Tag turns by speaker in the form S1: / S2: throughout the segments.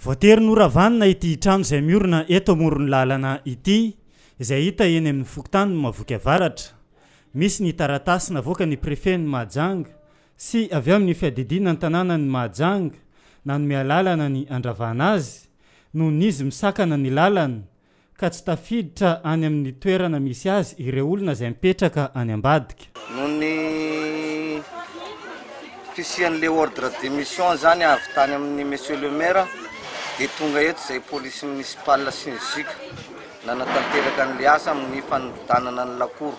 S1: Voatery noravanina ity trano izay miorina eto amoron'ny lalana ity, izay hita eny amin'ny fokontanin'i Mahavoky Avaratra. Misy ny taratasy navoakan'ny prefen'i Mahajanga sy avy amin'ny fiadidiana ny tanànan'i Mahajanga nanome alalana ny handravana azy, noho ny izy misakana ny lalana ka tsy tafiditra any amin'ny toerana misy azy ireo olona izay mipetraka any ambadika. Noho ny
S2: fisian'ilay ordre de mission izany avy tany amin'ny Monsieur le Maire dia tonga eto izay Police Municipale sy ny Juc nanatanteraka an'ilay asa amin'ny fanividanana ny lakoro.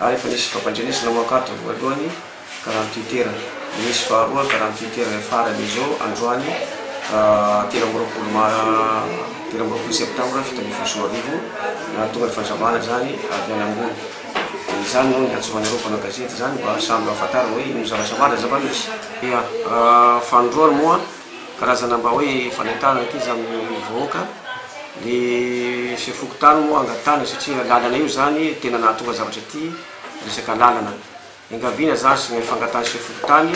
S3: ary efa nisy fampandrenesana ho ankatony voalohany karany Twitter, dia misy faharoa karany Twitter efa farany izao androany telo amby roapolo mar telo amby roapolo septambra fito ambin'ny folo sy roa arivo nahatonga ny fandrabana izany avy any ambony. Dia izany no niantsoan'ireo mpanao gazety izany mba samy hahafantarana hoe inona zavatra marina zava-misy. Ia, fanindroany moa Karazana mba hoe fanentanana ity izany ny vahoaka, ny chef fokontany moa angatahina satria lalana io izany tena nahatonga zavatra ity, resaka lalana engaviana izany sy ilay fangatahan'ny chef fokontany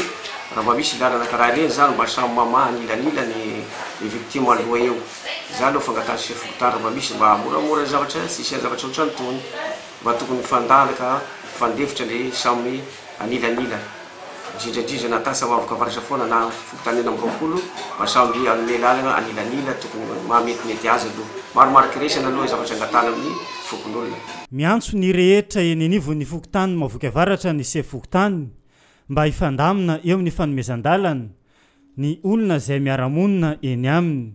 S3: raha mba misy lalana karaha ireny izany mba samy mamaha anilanila ny ny victime aloha eo, izany no fangatahan'ny chef fokontany raha mba misy mba hamoramora ny zavatra tsy hisian'ny zavatra ohatran'itony mba tokony mifandalaka mifandefitra ny samy anilanila. indrindra indrindra na tany Sahavoka Farisafoana na fokontany enina amby roapolo mba samby hanome lalana anilanila tokony maha metimety azy aloha. Maro mariky resany aloha ny zavatra angatahana amin'ny fokonolona. Miantso ny
S1: rehetra eny anivon'ny fokontany Mahaboiky Avaratra ny sefo fokontany mba hifandamina eo amin'ny fanomezan-dalana ny olona izay miara-monina eny aminy.